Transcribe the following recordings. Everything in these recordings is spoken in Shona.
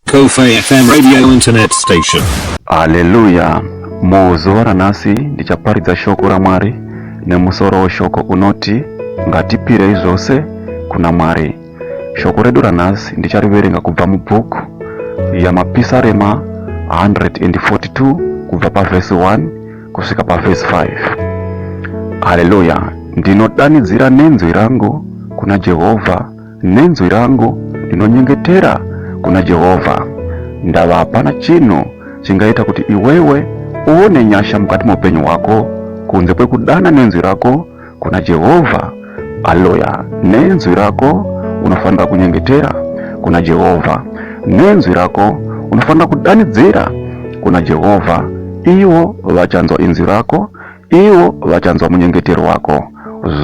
Kofi FM radio internet station. Haleluya! Muzuva ranhasi ndichaparidza shoko raMwari nemusoro weshoko unoti ngatipirei zvose kuna Mwari. Shoko redu ranhasi ndichariverenga kubva mubhuku yaMapisarema 142 kubva pavhesi 1 kusvika pavhesi 5. Haleluya! Ndinodanidzira nenzwi rangu kuna Jehovha Nenzwi rangu ndinonyengetera kuna Jehovha, ndava hapana chinhu chingaita kuti iwewe uone nyasha mukati meupenyu hwako kunze kwekudana nenzwi rako kuna Jehovha. Aloya, nenzwi rako unofanira kunyengetera kuna Jehovha, nenzwi rako unofanira kudanidzira kuna Jehovha, ivo vachanzwa inzwi rako Ivo vachanzwa munyengetero wako.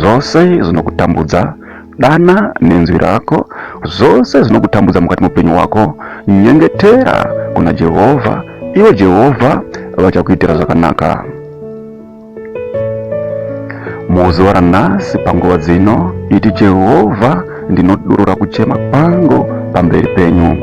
Zvose zvinokutambudza dana nenzwi rako, zvose zvinokutambudza mukati mupenyu wako, nyengetera kuna Jehovha, ivo Jehovha vachakuitira zvakanaka. Muzuva ranhasi panguva dzino, iti Jehovha, ndinodurura kuchema kwangu pamberi penyu.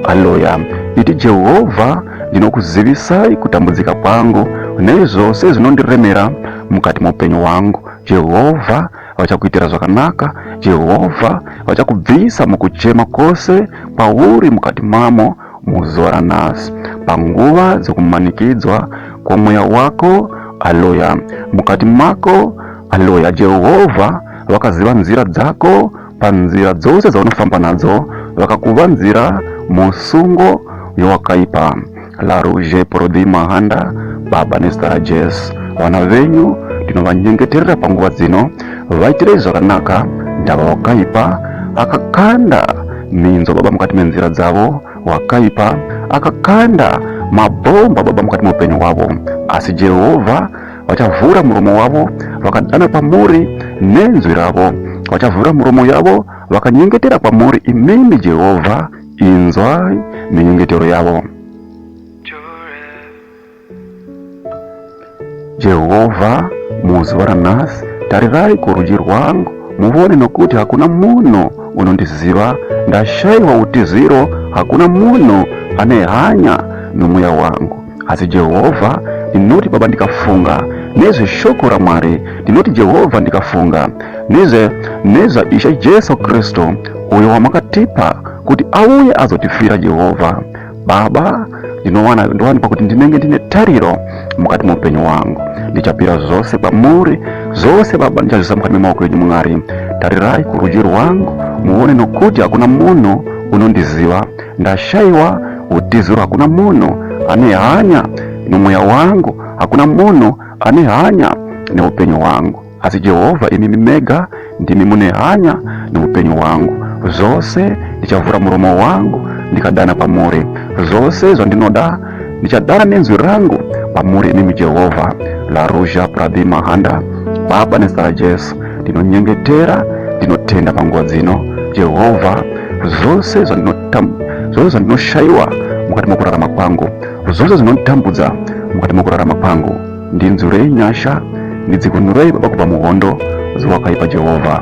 Aleluya! Iti Jehovha Ndinokuzivisai kutambudzika kwangu nezvose zvinondiremera mukati moupenyu hwangu. Jehovha vachakuitira zvakanaka. Jehovha vachakubvisa mukuchema kwose kwauri mukati mamo muzuva ranhasi, panguva dzokumanikidzwa kwomweya wako. Aleluya! Mukati mako, aleluya, Jehovha vakaziva nzira dzako panzira dzose dzaunofamba nadzo vakakuvanzira musungo yewakaipa laruje prodi mahanda baba nestara jes vana venyu ndinovanyengeterera panguva dzino vaitirei zvakanaka ndava wakaipa akakanda minzo baba mukati menzira dzavo wakaipa akakanda mabhomba baba mukati meupenyu hwavo asi jehovha vachavhura muromo wavo vakadana kwamuri nenzwi ravo vachavhura muromo yavo vakanyengetera kwamuri imimi jehovha inzwai minyengetero yavo jehovha muzuva ranhasi tarirai kurudyi rwangu muvone nokuti hakuna munhu unondiziva ndashayiwa utiziro hakuna munhu ane hanya nomweya wangu Asi Jehovha, ndinoti Baba ndikafunga nezveshoko raMwari, ndinoti Jehovha ndikafunga nezve nezvaIshe Jesu Kristu uyo wamakatipa kuti auye azotifira Jehovha. Baba, ndinowana ndowanikwa kuti ndinenge ndine tariro mukati muupenyu wangu ndichapira zvose kwamuri zvose baba ndichazvisa mukati memaoko enyu mwari tarirai kurudyi rwangu muone nokuti hakuna munhu unondiziva Ndashaiwa utiziro, hakuna munhu ane hanya nomweya wangu, hakuna munhu ane hanya neupenyu hwangu. Asi Jehovha, imimi mega ndimi mune hanya neupenyu hwangu. Zvose ndichavhura muromo wangu ndikadana kwamuri, zvose zvandinoda ndichadana nenzwi rangu pamuri inimi jehovha laruzha prabhi mahanda baba nezita rajesu ndinonyengetera ndinotenda panguva dzino jehovha zvose zvandinoshayiwa mukati mokurarama kwangu zvose zvinonditambudza mukati mokurarama kwangu ndinzwirei nyasha ndidzikunurei baba kubva muhondo ziwakaipa jehovha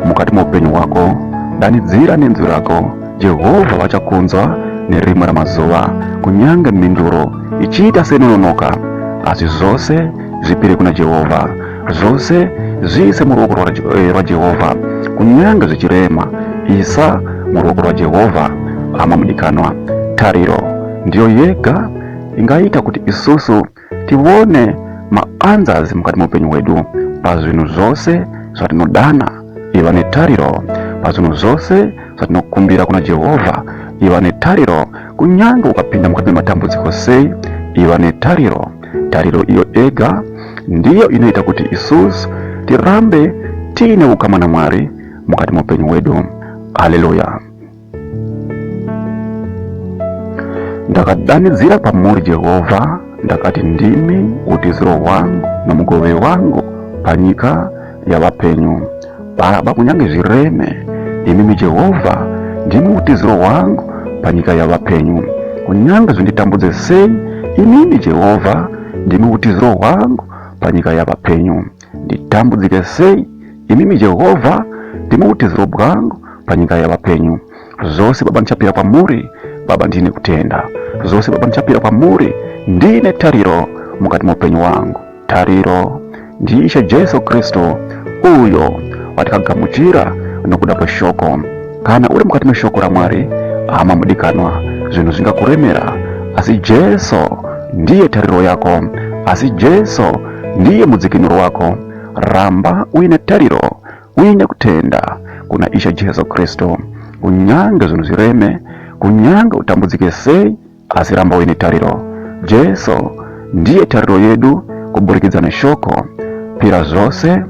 mukati moupenyu hwako danidzira nenzwi rako Jehovha vachakunzwa nerimwe ramazuva, kunyange mhinduro ichiita seinononoka. Asi zvose zvipire kuna Jehovha, zvose zviise muruoko eh, rwaJehovha. Kunyange zvichirema, isa muruoko rwaJehovha. Hama mudikanwa, tariro ndiyo yega ingaita kuti isusu tione maanzas mukati meupenyu hwedu pazvinhu zvose zvatinodana iva netariro pazvinhu zvose zvatinokumbira kuna jehovha iva netariro kunyange ukapinda mukati mematambudziko sei iva netariro tariro iyo ega ndiyo inoita kuti isus tirambe tiine ukama namwari mukati meupenyu hwedu haleluya Ndakadanidzira kwamuri Jehovha, ndakati, Ndimi utiziro hwangu nomugove wangu panyika yavapenyu. Baba, kunyange zvireme, imimi Jehovha, ndimi utiziro hwangu panyika yavapenyu. Kunyange zvinditambudze sei, imimi Jehovha, ndimi utiziro hwangu panyika yavapenyu. Nditambudzike sei? Imimi Jehovha ndimi utiziro bwangu panyika yevapenyu. Zvose Baba ndichapira kwamuri, Baba ndiine kutenda. Zvose Baba ndichapira kwamuri, ndiine tariro mukati meupenyu wangu. Tariro ndiIshe Jesu Kristu uyo watakagamuchira nokuda kweshoko. Kana uri mukati meshoko raMwari, hama mudikanwa, zvinhu zvingakuremera asi Jesu ndiye tariro yako, asi Jesu Ndiye mudzikinuro wako. Ramba uine tariro uine kutenda kuna Ishe Jesu Kristu. Kunyange zvinhu zvireme, kunyange utambudzike sei, asi ramba uine tariro. Jesu ndiye tariro yedu kuburikidza neshoko. Pira zvose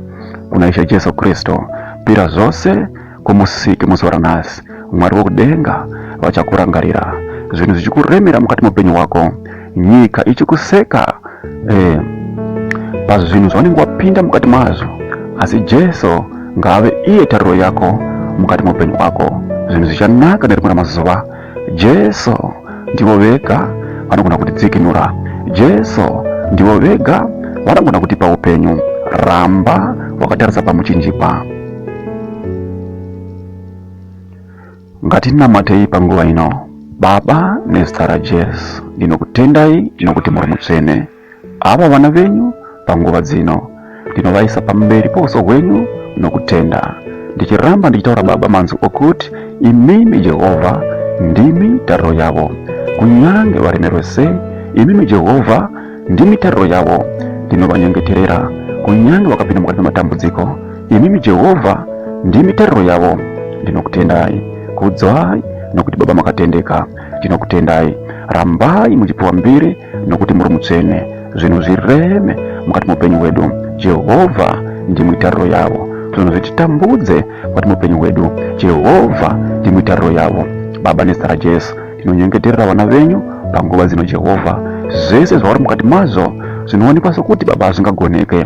kuna Ishe Jesu Kristu. Pira zvose kumusiki muzuva ranhasi mwari wekudenga vachakurangarira zvinhu zvichikuremera mukati meupenyu hwako nyika ichikuseka eh, pazvinhu zvaunenge wapinda mukati mazvo asi jesu ngaave iye tariro yako mukati meupenyu hwako zvinhu zvichanaka nerimwe ramazuva Jesu ndivo vega vanogona kutidzikinura. Jesu ndivo vega vanogona kutipa upenyu. Ramba wakatarisa pamuchinjikwa. Ngatinamatei panguva ino. Baba, nezita raJesu, ndinokutendai, ndinokuti muri mutsvene. Ava vana venyu panguva dzino ndinovaisa pamberi pouso hwenyu nokutenda ndichiramba ndichitaura baba manzwi okuti imimi jehovha ndimi tariro yavo kunyange varemerwe sei imimi jehovha ndimi tariro yavo ndinovanyengeterera kunyange vakapinda mukati mematambudziko imimi jehovha ndimi tariro yavo ndinokutendai kudzwai nokuti baba makatendeka ndinokutendai rambai muchipiwa mbiri nokuti muri mutsvene zvinhu zvireme mukati meupenyu hwedu jehovha ndimuitariro yavo zvinhu zvititambudze mukati meupenyu hwedu jehovha ndimuitariro yavo baba nezita rajesu ndinonyengeterera vana venyu panguva dzino jehovha zvese zvavari mukati mazvo zvinoonekwa sokuti baba zvingagoneke